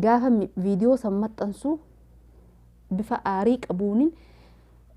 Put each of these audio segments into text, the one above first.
Gaafan viidiyoo san maxxansu bifa aarii qabuunin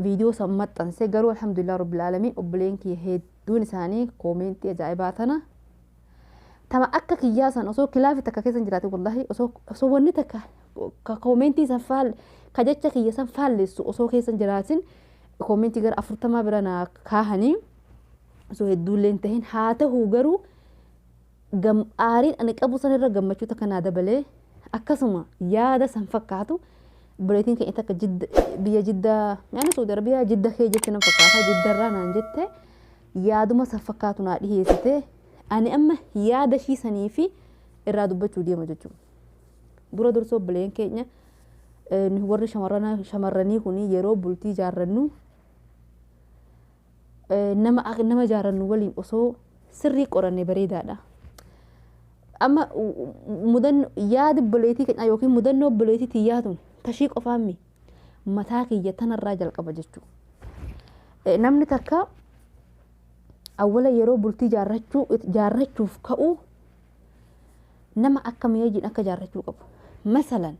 viidiyoo san maxxanse garuu alhamdulillah rabbil aalamiin obboleen kiyya hedduun isaanii koomeentii ajaa'ibaa tana tama akka kiyyaa san osoo kilaafi takka keessan jiraate wallahi osoo osoo wanni takka ka koomeentii san faal ka jecha kiyya san faalleessu osoo keessan jiraatin koomeentii gara afurtamaa bira naa kaahanii osoo hedduullee hin tahin haa tahuu garuu Gam, aariin ani qabu san irra gammachuu takka naa dabalee akkasuma yaada san fakkaatu obboleettiin keenya takka jidda, biyya jidda yaani suudi arabiyaa jidda kee jette nan fakkaata jidda irraa naan jette yaaduma san fakkaatu naa dhiheessite ani amma yaada ishii sanii fi irraa dubbachuu deema jechuudha. Dura dursoo obboleen keenya eh, nu warri shamarrana- shamarranii kun yeroo bultii jaarrannu nama nama jaarannu waliin osoo sirrii qoranne bareedaadha. Amma mudanno yaada obboleetii keenyaa yookiin mudannoo obboleetii tiyyaa tun tashii qofaammi mataa kiyya tanarraa jalqaba jechuu. Namni takka awwala yeroo bultii jaarrachuu jaarrachuuf ka'u nama akkamii wajjin akka jaarrachuu qabu. Masalan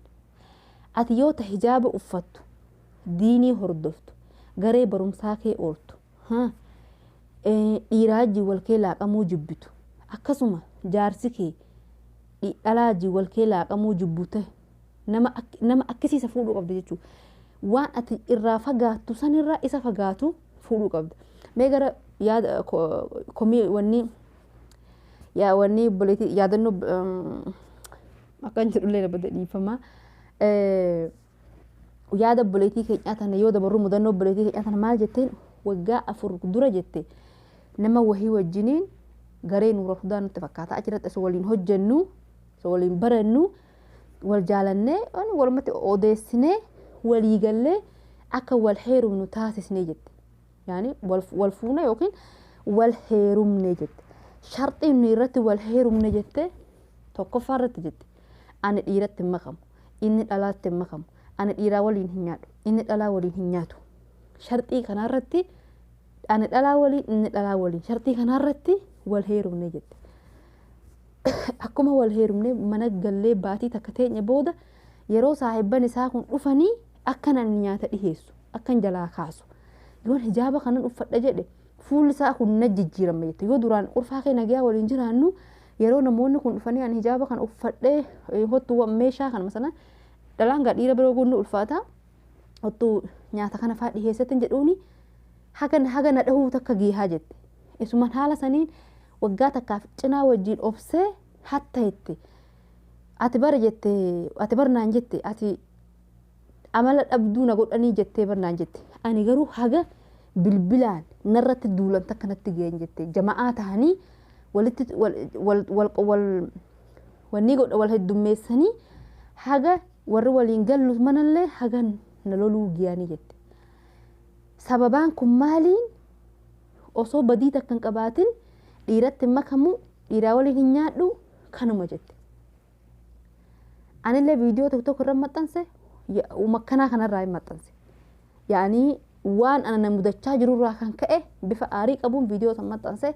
ati yoo ta hijaaba uffattu diinii hordoftu, garee barumsaa kee ooltu, ha, ee, dhiiraa wajjin wal kee laaqamuu jibbitu, akkasuma jaarsi kee dhi- dhalaa wajjin wal kee laaqamuu jibbu ta'e, nama, ak- nama akkasii isa fuudhuu qabda jechuudha. Waan ati irraa fagaattu sanirraa isa fagaatu fuudhuu qabda. Mee gara yaada ko- komii wanni yaa wanni obboleetii yaadannoo um, akkan jedhullee na bada dhiifama. Eh, yaada obboleettii keenyaa tana yoo dabarru mudannoo obboleettii keenyaa tana maal jetteen waggaa afur dura jette nama wahii wajjiniin garee nuura hudaa nutti fakkaata achirratti osoo waliin hojjennu osoo waliin barannu wal jaalannee waan walumatti odeessinee walii gallee akka wal heerumnu taasisnee jette yaani wal wal fuune yookiin wal heerumne jette sharxiin nuyi irratti wal heerumne jette tokkoffaa irratti jette Ani dhiiratti hin makamu. Inni dhalaatti hin makamu. Ani dhiiraa waliin hin nyaadhu. Inni dhalaa waliin hin nyaatu. Sharxii kanaarratti ani dhalaa waliin inni dhalaa waliin sharxii kanaarratti wal heerumne jette. Akkuma wal heerumne mana gallee baatii takka teenye booda yeroo saahibban isaa kun dhufanii akkan ani nyaata dhiheessu akkan jalaa kaasu yoon hijaaba kanan uffadha jedhe fuulli isaa kun na jijjiirama jette yoo duraan urfaa kee nagayaa waliin jiraannu Yeroo namoonni kun dhufanii ani hijaaba kana uffadhee hottu meeshaa kana masana dhalaan gaa dhiira biroo guunni ulfaata hottu nyaata kana faa dhiheessatin jedhuuni haga haga na dhahuu takka giihaa jette. Isuman haala saniin waggaa takkaaf cinaa wajjiin obsee hatta jette. Ati bara jette ati bara naan jette ati amala dhabduu na godhanii jettee bar naan jette. Ani garuu haga bilbilaan narratti duulan takka natti ga'een jette. Jama'aa tahanii walitti wal wal wal wal wanni godha wal heddummeessanii haga warri waliin gallu manallee haga na loluu giyanii jette. Sababaan kun maaliin osoo badii takka hin qabaatin dhiiratti hin makamu dhiiraa waliin hin nyaadhu kanuma jette. Anillee viidiyoo tokko tokko irra maxxanse makkanaa kanarraa hin maxxanse. Yaanii waan ana na mudachaa jirurraa kan ka'e bifa aarii qabuun viidiyoo san maxxanse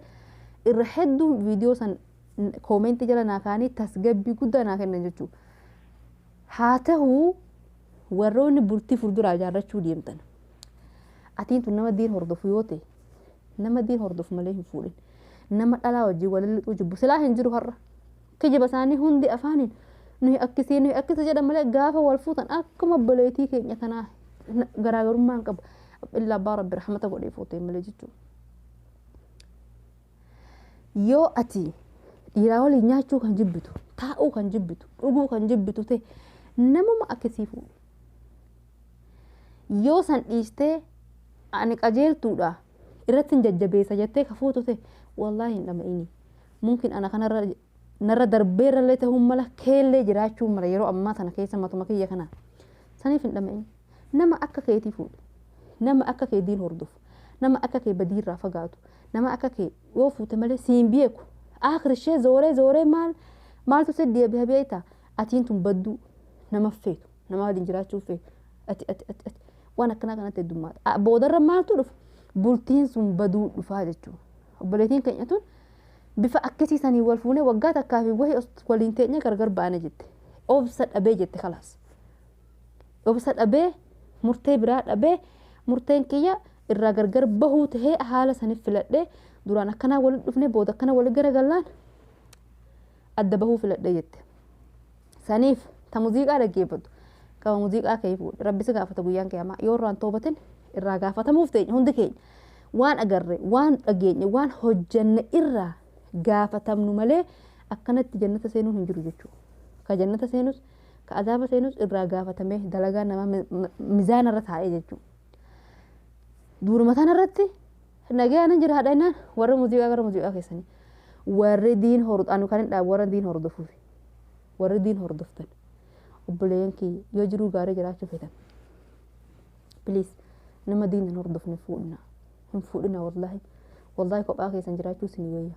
irra hedduun viidiyoo san koomeentii jala naa kaanii tasgabbii guddaa naa kennan jechuudha. Haa ta'uu warroonni bultii fuulduraa ijaarrachuu deemtan. Atiin tun nama diin hordofu yoo ta'e nama diin hordofu malee hin fuudhin. Nama dhalaa wajjin walilixuu jibbu silaa hin jiru har'a. Kijiba isaanii hundi afaaniin nuyi akkisii nuyi akkisa jedhan malee gaafa wal fuutan akkuma obboleetii keenya kanaa garaagarummaa hin qabu. Illaa abbaa rabbi rahmata godhee fuuteen malee jechuudha. Yoo ati dhiiraa waliin nyaachuu kan jibbitu, taa'uu kan jibbitu, dhuguu kan jibbitu ta'e namuma akkisii fuudhi. Yoo san dhiistee ani qajeeltuudha irratti hin jajjabeessa jettee ka fuutu ta'e wallaahi hin dhama'ini. Mumkin ana kanarra narra darbeerrallee tahuun mala keellee jiraachuu mala yeroo ammaa tana keessa matuma kiyya kana saniif hin dhama'in nama akka keetii fuudhi nama akka kee diin hordofu nama akka kee badiirraa fagaatu nama akka kee yoo fuute malee siin beeku aakrishee zooree zooree maal maaltu si deebiha beekta atiin tun badduu nama feetu nama waliin jiraachuu feetu ati ati ati ati waan akkanaa kanatti heddummaata boodarra maaltu dhufa bultiin sun baduu dhufaa jechuudha obboleetiin keenya tun Bifa akkasii saniin wal fuune waggaa takkaa fi wahi os waliin teenye gargar baane jette. Obsa dhabee jette kalaas. Obsa dhabee murtee biraa dhabee murteen kiyya irraa gargar bahuu tahee haala saniif filadhee duraan akkanaa walitti dhufne booda akkana walitti garagallaan adda bahuu filadhe jette. Saniif ta muziiqaa dhaggeeffatu gama muziiqaa kee fuudhe rabbi si gaafata guyyaan qiyaamaa yoo irraan toobatin irraa gaafatamuuf teenya hundi keenya waan agarre waan dhageenye waan hojjanne irraa gaafatamnu malee akkanatti jannata seenuun hin jiru jechuudha. Ka jannata seenus ka azaaba seenus irraa gaafatamee dalagaa namaa mi- mi- mizaana irra taa'ee jechuudha. Duuruma tanarratti Nagaa nan jiraadha innaan warri muuziqaa gara muuziqaa keessanii. Warri diin hordofu anu kan hin dhaabu warra diin hordofuuf. Warri diin hordoftan obboleeyyan kiyya yoo jiruu gaarii jiraachuu feetan. Please nama diin hin hordofne fuudhina. Hin fuudhina wallaahi. Wallaahi kophaa keessan jiraachuu isin wayya.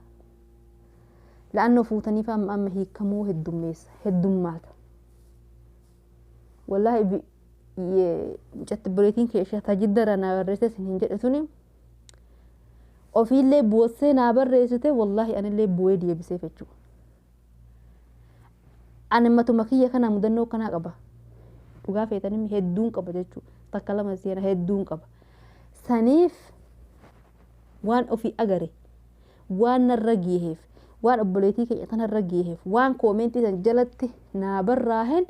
La'annoo fuutaniif amma amma hiikamuu heddummeessa heddummaata. Wallaahi mucatti buleetiin kee ishee tajidda irraa naa barreessee sin hin jedhe tuni ofiillee boossee naa barreessite wallaahi anillee bu'ee deebisee fechuu. Ani matuma kiyya kana mudannoo kanaa qaba. Dhugaa feetanii hedduun qaba jechuudha. Takka lama seena hedduun qaba. Saniif waan ofii agare waan narra geeheef waan obboleetii keenya tanarra geeheef waan koomeentii san jalatti naa barraahen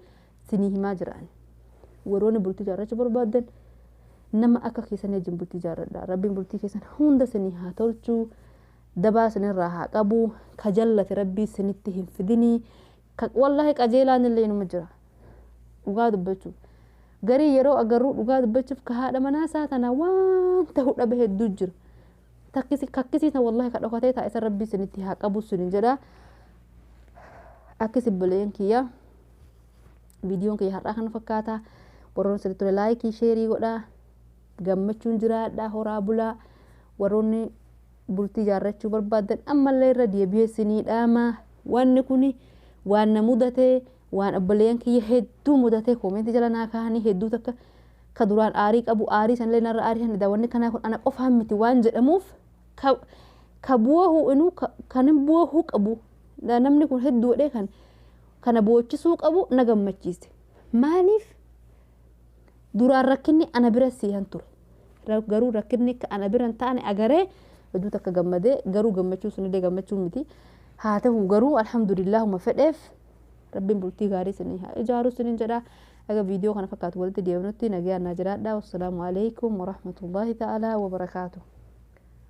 Sinii himaa jira ani. Warroonni bultii jaarrachuu barbaaddan nama akka keessanii wajjin bultii jaarradha. Rabbiin bultii keessan hunda sinii haa tolchuu. Dabaa sinirraa haa qabu. Ka jallate rabbii sinitti hin fidinii. Ka wallaahi qajeelaan illee inuma jira. Dhugaa dubbachuuf. Garii yeroo agarruu dhugaa dubbachuuf ka haadha manaa isaa tana waan ta'u dhabe hedduu jira. Takkisi kakkisii tan wallaahi ka dhokatee taa'e san rabbii sinitti haa qabu sinin jedha. Akkisi buleen kiyyaa. Viidiyoon kiyya har'aa kana fakkaata. Warroonni sirrii ture laayikii sheerii godhaa. Gammachuun jiraadhaa horaa bulaa. Warroonni bultii jaarrachuu barbaadan ammallee irra deebi'ee sinii dhaama. Wanni kun waan na mudatee waan obboleeyyan kiyya hedduu mudatee koomeentii jala naa kaa'anii hedduu takka ka duraan aarii qabu aarii sanillee narra aarii hanidha wanni kanaa kun ana qofaan miti waan jedhamuuf ka ka bu'oohu inuu ka- kan hin bu'oohu qabu namni kun hedduu godhee kan kana boochisuu qabu na gammachiise. Maaliif duraan rakkinni ana bira siihan ture. Garuu rakkinni akka ana bira hin taane agaree hedduu takka gammadee garuu gammachuu sunillee gammachuu miti. Haa ta'u garuu alhamdulillaahuma fedheef rabbiin bultii gaarii isinii haa ijaaru isiniin jedha. Aga viidiyoo kana fakkaatu walitti deebinutti nagayaan naa jiraadha. Wassalaamu alaikum warahmatullaahi ta'aalaa wabarakaatuh.